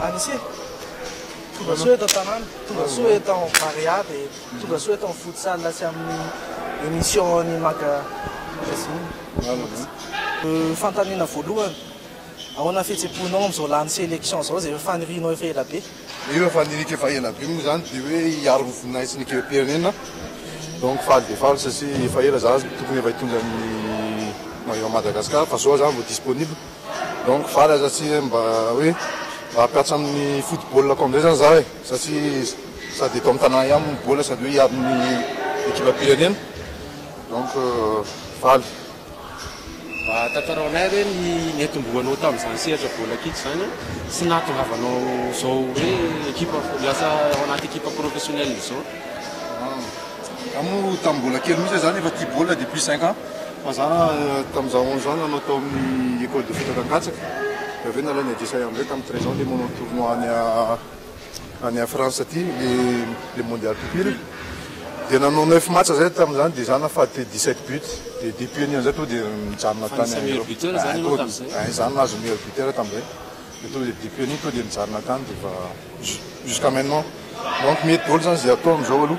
Anise, tonga soa eto an-tanàna, tonga soa eto amin'ny Barea dia tonga soa eto amin'ny Futsal sy amin'ny émission ny Maga Magazine. Ny fanontaniana voalohany, ahoana ny fihetseham-ponao amin'izao lany sélection izao izay efa fanirianao efa ela be? Mino fa ny alika efa ela be moa zany de hoe hiaro ny voninahitry ny ekibim-pirenena donc faly dia faly satria efa ela za tokony efa hitondra ny maillot Madagascar fa zao za vao disponible donc faly aza tsy hoe mba hoe mba hampiatra amin'ny football ko amizay zany za e satria sady eto amin'ny tanàna ihany ny baolina sady hoe hiaro ny ekibam-pirenena donc faly. Mba tantarao anay hoe ny niantombohanao tamin'izany sehatra baolina kitra izany sy ny nahatongavanao izao hoe ekipa, lasa ao anaty ekipa professionnelle izao. Za moa tamin'ny mbola kely mihitsy aho zany efa tia baolina depuis cinq ans fa za tamin'ny za onze ans nanao tao amin'ny école de foot Ankatsaky de avy eo nalain'i Adrisa Yambre tamin'ny treize ans de manao tournoi any any en France aty le le mondial pupille de nanao neuf match zay tamin'izany de za nahafaty dix sept buts de depuis anio zay to de mijanona tany Fanisany meilleur buteur zany ianao tamin'izay? Ay za nahazo meilleur buteur tamin'izay de to de depuis anio to de mijanona tany de efa jus- jusqu'à maintenant donc mety daholo zany ze atao amizao aloha.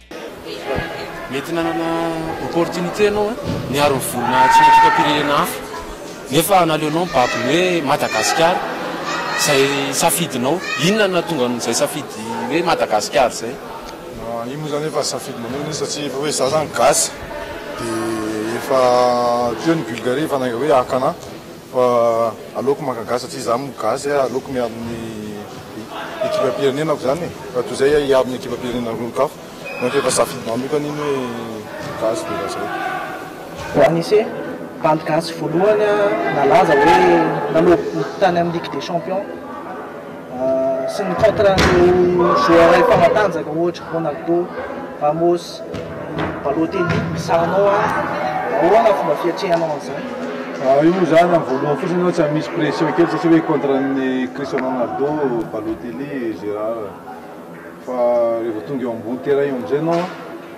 Mety nanana opportunité ianao niaro ny volona tsy ekipam-pirenena hafa nefa naleonao mibaby ny hoe Madagasikara izay safidinao. Inona no nahatonga an'izay safidy hoe Madagasikara izay? Io moa izany efa safidy manokana satria efa hoe za izany gasy dia efa teo ny Bulgarie efa naiga hoe haka anah Fa aleoko maka gasy satria za mo gasy a, aleoko miaro ny ekipam-pirenenako zany e, fa toy zay aho hiaro ny ekipam-pirenena olon-kafa, donc efa safidy manokana iny hoe gasy de efa zay. Vao anise bandy gasy voalohany nalaza hoe nanovo boty tany amin'ny ligue des champions. sy ny contrat an'ireo joueurs mpanatanjaka ohatra Ronaldo, Ramos, Balotelli, izahanao an! Ahoana ny fomba fiatrehanao an'izany? Raha io zany amin'ny voalohany fotsiny aloha tsy misy pression kely satria hoe contrat an'i Cristiano Ronaldo, Balotelli, Gerard fa rehefa tonga eo ambony terrain eo amin'izay ianao an,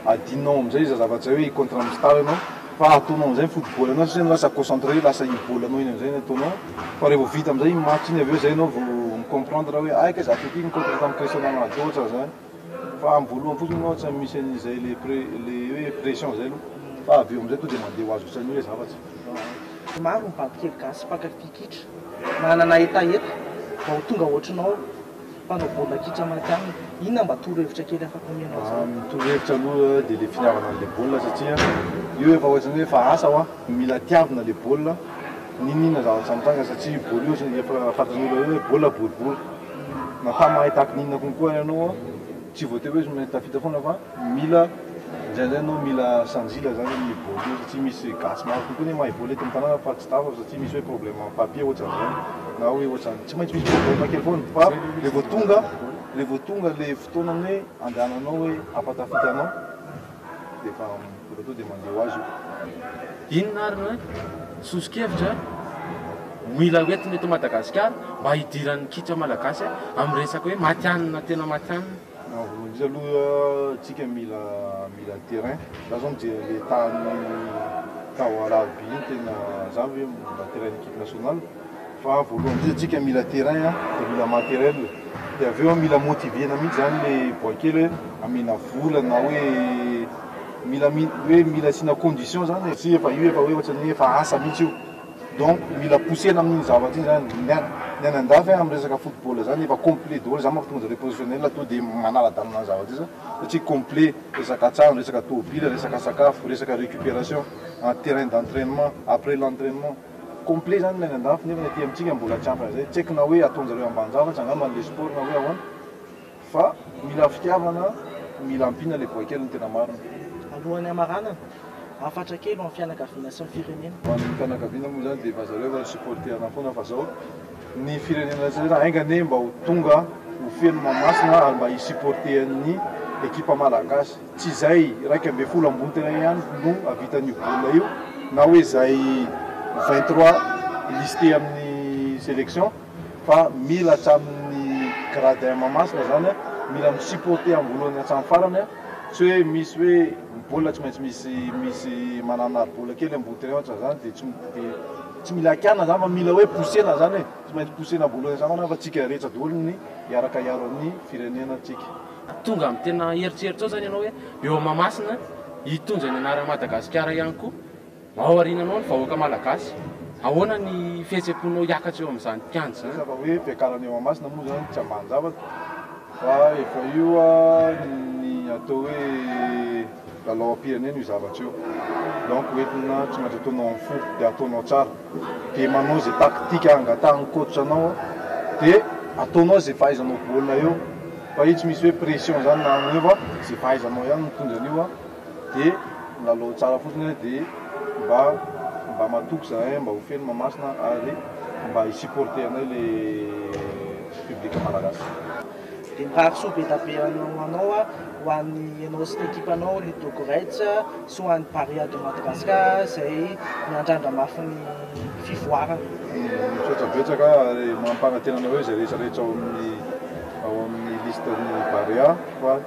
adinonao amin'izay izay zavatra izay hoe i contrat misy tara ianao. Fa ataonao amizay ny foot ball anao satria anao lasa concentré lasa iny ball anao iny amizay ny ataonao fa revo vita amizay iny match iny avy eo zay anao vo mi comprendre hoe ay kay za ty ty ny coach tamy Christiana Ronaldo ohatra zany fa am voalohany fotsiny anao tsy misy anizay le pre le hoe pression zay aloha fa avy eo amizay to de mande ho azy fotsiny anio le zavatra. Maro ny babikely gasy mpankafy kitra manana hetaheta vao tonga ohatrinao Mpanao baolina kitra Matianina, inona mba torohevitra kely afaka omenao azy ireo? Ny torohevitra aloha dia ilay fitiavana an'ilay baolina satria io efa ohatrany hoe efa asa hoa, mila tiavina ilay baolina n'inon'inona zavatra mitranga satria io baolina io ohatrany efa fantan'olona hoe baolina boribory na fa mahay tahaka ny inona konkoa ary ianao hoa, tsy voatery hoe izy no mahay tafita foana fa. Mila indraindray anao mila sanjila zany hoe ny vote io satria misy gasy maro kokoa ny mahay vote eto amin'ny tanàna fa tsy tapaka satria misy hoe problème am papier ohatran'izany na hoe ohatran'ny tsy maintsy misy problème kely foana fa le vao tonga le vao tonga le fotoanan'ny hoe andehananao hoe hampatafita anao dia efa efa tonga dia mandeha ho azy io. Inona ary no soso-kevitra mila hoentina eto Madagasikara mba hidiran'ny kitra malagasy amin'ny resaka hoe matihanina tena matihanina? Raha voalohany indrindra aloha tsika mila mila terrain, za zao mijery le tany tao Alarobia iny tena zany hoe mba terrain ny equipe nationale fa voalohany indrindra tsika mila terrain a, de mila matériel, de avy eo a mila motiver-na mihitsy zany le boay kely hoe amena vola na hoe mila mi- hoe mila asiana condition zany e, tsy efa io efa hoe ohatrany hoe efa asa mihitsy io. Donc mila pousser-na amin'iny zavatra iny zany ny an, ny any andafy amin'ny resaka football zany efa complet daholo, za manko tonga de le professionnel to de manala-dalana ny zavatra io satria complet, resaka trano, resaka tôbila, resaka sakafo, resaka récupération, an terrain d'entrainement, après l'entrainement, complet zany ny any andafy nefa ny aty amintsika mbola tsy ampy an'izay, tsy haiko na hoe ataonjareo ambanin-javatra angamba ny le sport na hoe ahoana. Fa mila fitiavana, mila ampiana ilay boay kely ny tena marina. Alohan'ny hamaranana, hafatra kely ho an'ny fianakaviana sy ny firenena. Ho an'ny fianakaviana moa izany dia efa zareo efa ni-supporter-na foana fa izao ny firenena tsy ela enga anie mba ho tonga ho feno Mahamasina ary mba hi-supporter ny ekipa malagasy. Tsy izay iraika ambin'ny folo ambony tena ihany no havitan'ny io baolina io na hoe izay vingt trois listé amin'ny selection. Fa mila hatramin'ny gradin Mahamasina izany an, mila mi supporter amin'ny voalohany hatramin'ny farany an, tsy hoe misy hoe ny baolina tsy maintsy misy misy manana aribola kely ambony terrain ohatra izany dia tsy dia tsy mila hakianina izany fa mila hoe pousser-na izany e, tsy maintsy pousser-na amin'ny voalohany hatramin'ny farany fa tsika rehetra daholo ny hiaraka hiaro ny firenena tsika. Tonga amin'ny tena eritreritra ao izany ianao hoe eo Mahamasina hitondra ny anaran'i Madagasikara ihany koa. Aoriananao ny vahoaka malagasy. Ahoana ny fihetseham-ponao hiakatra eo amin'izany mpiandry izany? Resaka hoe fiakarana eo Masina moa izany tsy ambanin-javatra fa efa io ny atao hoe lalaom-pirenena io zavatra io. Donc hoentina tsy maintsy ataonao amin'ny fo dia ataonao tsara. Dia manao izay tactique hangatahan'ny coach anao dia ataonao izay fahaizanao baolina eo fa io tsy misy hoe pression izany na an'io fa izay fahaizanao ihany no mitondra an'io. de milalao tsara fotsiny hoe de mba mba matoky zahay mba ho feno Mahamasina ary mba hi supporter anay le public malagasy. Dia mirarisoa be dia be anao ho anao ho an'ny ianao sy ny ekipanao ny Dogo Reds sy ho an'ny Barea de Madagascar izay miandrandra mafy ny fivoarana. Misaotra betsaka ary mampanantena anareo izay rehetra rehetra ao amin'ny ao amin'ny liste ny Barea fa.